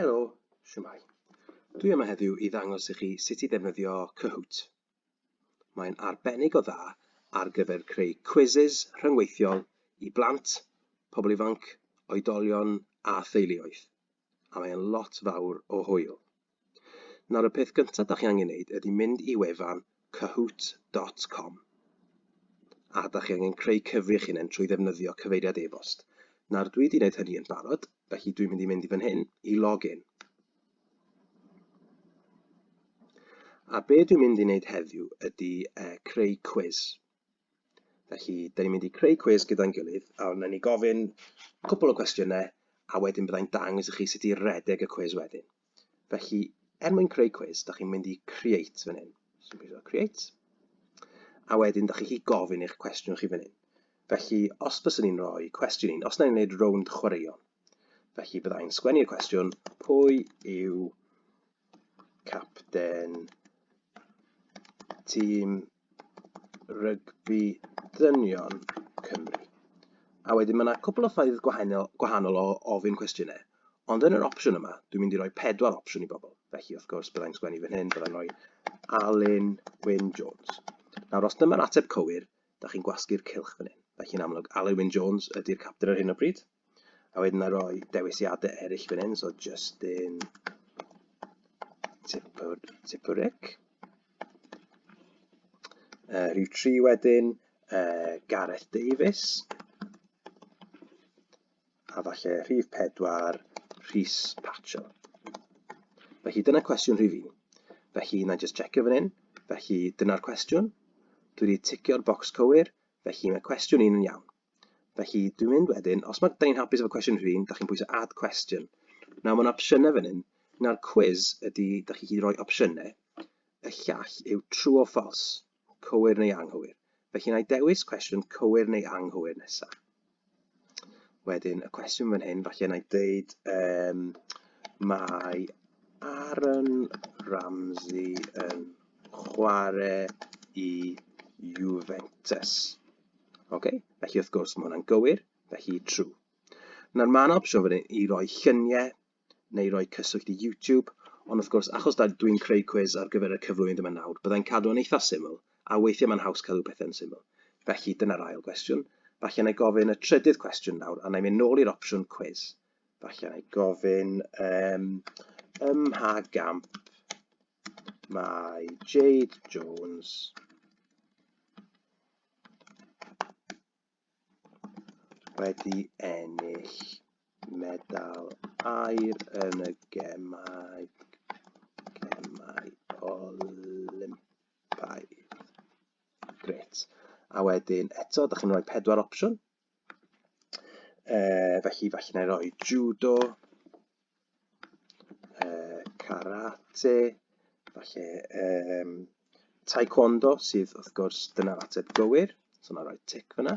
Helo, siwmai. Dwi yma heddiw i ddangos i chi sut i ddefnyddio Kahoot. Mae'n arbennig o dda ar gyfer creu quizzes rhyngweithiol i blant, pobl ifanc, oedolion a theuluoedd. a mae e'n lot fawr o hwyl. Nawr y peth gyntaf da chi angen neud ydy mynd i wefan Kahoot dot com a da chi angen creu cyfri eich hunain trwy ddefnyddio cyfeiriad e-bost. Nawr dwi wedi gwneud hynny yn barod, felly dwi'n mynd i mynd i fan hyn i login. A be dwi'n mynd i wneud heddiw ydy uh, creu cwiz. Felly, da ni'n mynd i creu cwis gyda'n gilydd, a wnawn ni gofyn cwpl o gwestiynau, a wedyn byddai'n dangos i chi sut i redeg y cwis wedyn. Felly, er mwyn creu cwis, da chi'n mynd i create fan hyn. So, dwi'n mynd create. A wedyn, da chi'n gofyn eich cwestiwn chi fan hyn. Felly, os bys ni'n rhoi cwestiwn un, os na'n gwneud rownd chwaraeon, felly byddai'n sgwennu'r cwestiwn, pwy yw capten tîm rygbi dynion Cymru. A wedyn mae yna cwpl o ffaith gwahanol, gwahanol o ofyn cwestiynau. Ond yn yr opsiwn yma, dwi'n mynd i roi pedwar opsiwn i bobl. Felly, wrth gwrs, byddai'n sgwennu fan hyn, byddai'n rhoi Alun Wyn Jones. Nawr, os dyma'r ateb cywir, da chi'n gwasgu'r cylch fan hyn. Felly, yn amlwg, Alun Wyn Jones ydy'r captain ar hyn o bryd. A wedyn a roi dewisiadau eraill fan hyn, so Justin Tipper, Tipperick. Uh, rhyw tri wedyn, uh, Gareth Davies. A falle rhif pedwar, Rhys Patcho. Felly dyna cwestiwn rhif un. Felly na just checio fan hyn. Felly dyna'r cwestiwn. Dwi wedi ticio'r bocs cywir, felly mae cwestiwn un yn iawn. Felly, dwi'n mynd wedyn, os mae, da ni'n hapus efo cwestiwn rhywun, da chi'n pwysau add question. Nawr, mae'n opsiynau fan hyn. Nawr, quiz ydy, da chi chi roi opsiynau. Y llall yw true or false, cywir neu anghywir. Felly, na i dewis cwestiwn cywir neu anghywir nesaf. Wedyn, y cwestiwn fan hyn, falle na i ddeud, um, mae Aaron Ramsey yn chwarae i Juventus. Ok, felly wrth gwrs mae hwnna'n gywir, felly true. Nawr mae'n opsiwn fan hyn i roi lluniau neu roi cyswllt i YouTube, ond wrth gwrs, achos dwi'n creu cwiz ar gyfer y cyflwynydd yma nawr, byddai'n cadw yn eitha syml, a weithiau mae'n haws cadw pethau'n syml. Felly dyna'r ail gwestiwn. Falle na i gofyn y trydydd cwestiwn nawr, a na i mynd nôl i'r opsiwn cwiz. Falle na i gofyn um, ym mha gamp mae Jade Jones wedi ennill medal aur yn y Gemau Olympaidd. Grêt. A wedyn eto, da chi'n rhoi pedwar opsiwn. Uh, felly, felly na i roi judo, uh, karate, felly um, taekwondo sydd wrth gwrs dyna'r ateb gywir, so na roi tic fyna,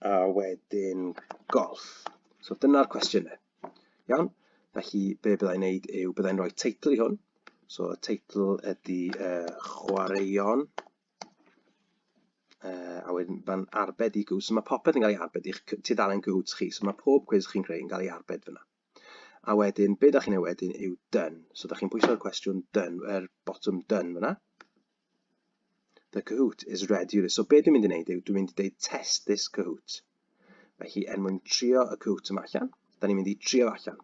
a wedyn golf. So dyna'r cwestiynau. Iawn? Felly, be byddai'n neud yw, byddai'n rhoi teitl i hwn. So, y teitl ydy uh, chwaraeon Uh, a wedyn mae'n arbed i Goots. So mae popeth yn cael ei arbed i'ch tudalen Goots chi. So mae pob cwiz chi'n creu yn cael ei arbed fyna. A wedyn, be da chi'n ei wedyn yw done. So da chi'n pwyso'r cwestiwn done, er botwm done fyna. The Kahoot is ready. So be dwi'n mynd i wneud yw, dwi'n mynd i dweud test this Kahoot. Mae hi er mwyn trio y Kahoot yma allan. Da ni'n mynd i trio allan.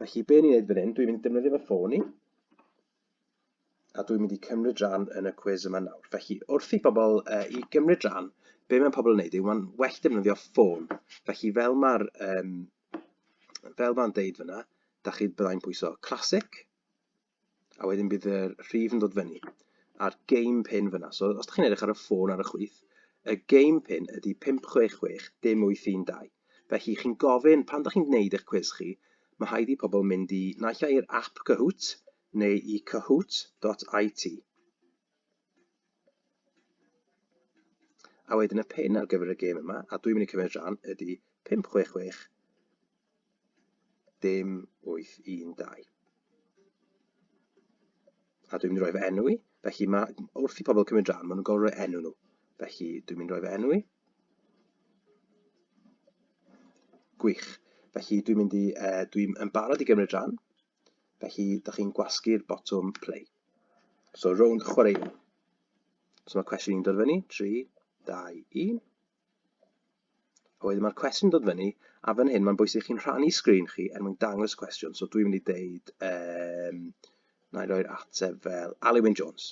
Felly, be ni'n neud fan hyn, dwi'n mynd i defnyddio fy ffôn i, a dwi'n mynd i cymryd rhan yn y cwiz yma nawr. Felly, wrth i bobl uh, i gymryd rhan, be mae pobl yn neud yw mae'n well defnyddio ffôn. Felly, fel mae'r um, fel mae'n deud fyna, da chi byddai'n pwyso classic, a wedyn bydd y rhif yn dod fyny a'r game pin fyna. So os ydych chi'n edrych ar y ffôn ar y chwith, y game pin ydy 566 dim 812. Felly chi'n gofyn, pan ydych chi'n gwneud eich cwiz chi, mae rhaid i pobl mynd i naill i'r app Kahoot neu i kahoot.it. A wedyn y pin ar gyfer y gêm yma, a dwi'n mynd i cymryd rhan, ydy 566 dim 812. A dwi'n mynd i roi fy enw i, felly mae, wrth i pobl cymryd rhan, maen nhw'n gorfod rhoi enw nhw. Felly dwi'n mynd i roi fy enw i. Gwych. Felly dwi'n mynd i, uh, dwi'n yn barod i gymryd rhan, felly da chi'n gwasgu'r botwm play. So, rownd chwaraeon. So mae cwestiwn i'n dod fyny, 3, 2, 1. A wedyn mae'r cwestiwn dod fyny, a fan hyn mae'n bwysig chi'n rhannu sgrin chi er mwyn dangos y cwestiwn. So dwi'n mynd i ddeud, um, na i roi'r ateb fel Alewin Jones.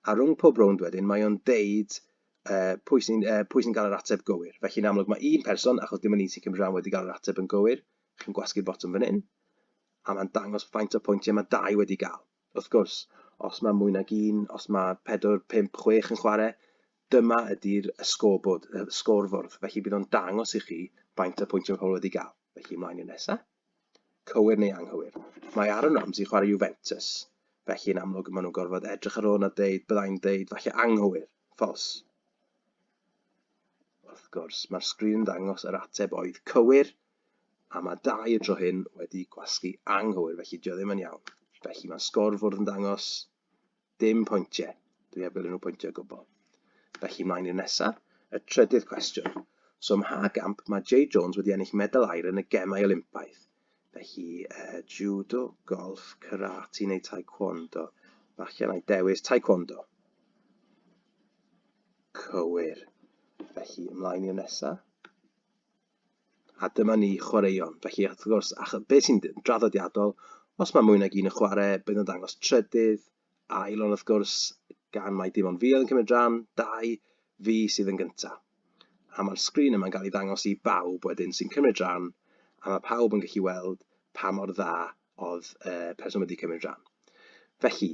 A rhwng pob rownd wedyn, mae o'n deud uh, pwy sy'n uh, sy gael yr ateb gywir. Felly yn amlwg mae un person, achos dim ond un sy'n cymryd rhan wedi cael yr ateb yn gywir, chi'n gwasgu'r botwm fan hyn, a mae'n dangos faint o pwyntiau mae dau wedi gael. Wrth gwrs, os mae mwy nag un, os mae pedwar, pump, chwech yn chwarae, dyma ydy'r y sgorbwrdd, y sgorfwrdd. Felly bydd o'n dangos i chi faint o pwyntiau pobl wedi gael. Felly ymlaen i'r nesaf. Cywir neu anghywir. Mae Aaron Ramsey chwarae Juventus. Felly yn amlwg maen nhw'n gorfod edrych ar hwn a dweud, byddai'n dweud, falle anghywir, ffos. Wrth gwrs, mae'r sgrin yn dangos yr ateb oedd cywir, A mae dau y dro hyn wedi gwasgu anghywir, felly dio ddim yn iawn. Felly mae sgor fwrdd yn dangos dim pwyntiau. Dwi heb gael unrhyw pwyntiau o gwbl. Felly mlaen i'r nesaf, y trydydd cwestiwn. So ym mha gamp mae Jay Jones wedi ennill medal air yn y gemau Olympaidd? Felly, uh, judo, golf, karate neu taekwondo. Falle na i dewis taekwondo. Cywir. Felly, ymlaen i'r nesaf. A dyma ni, chwaraeon. Felly, wrth gwrs, a be sy'n draddodiadol, os mae mwy nag un yn chwarae, bydd yn dangos trydydd, ail, ond wrth gwrs, gan mae dim ond fi oedd yn cymryd rhan, dau, fi sydd yn gyntaf. A mae'r sgrin yma'n cael ei ddangos i bawb wedyn sy'n cymryd rhan, a mae pawb yn gallu weld pa mor dda oedd y person wedi cymryd rhan. Felly,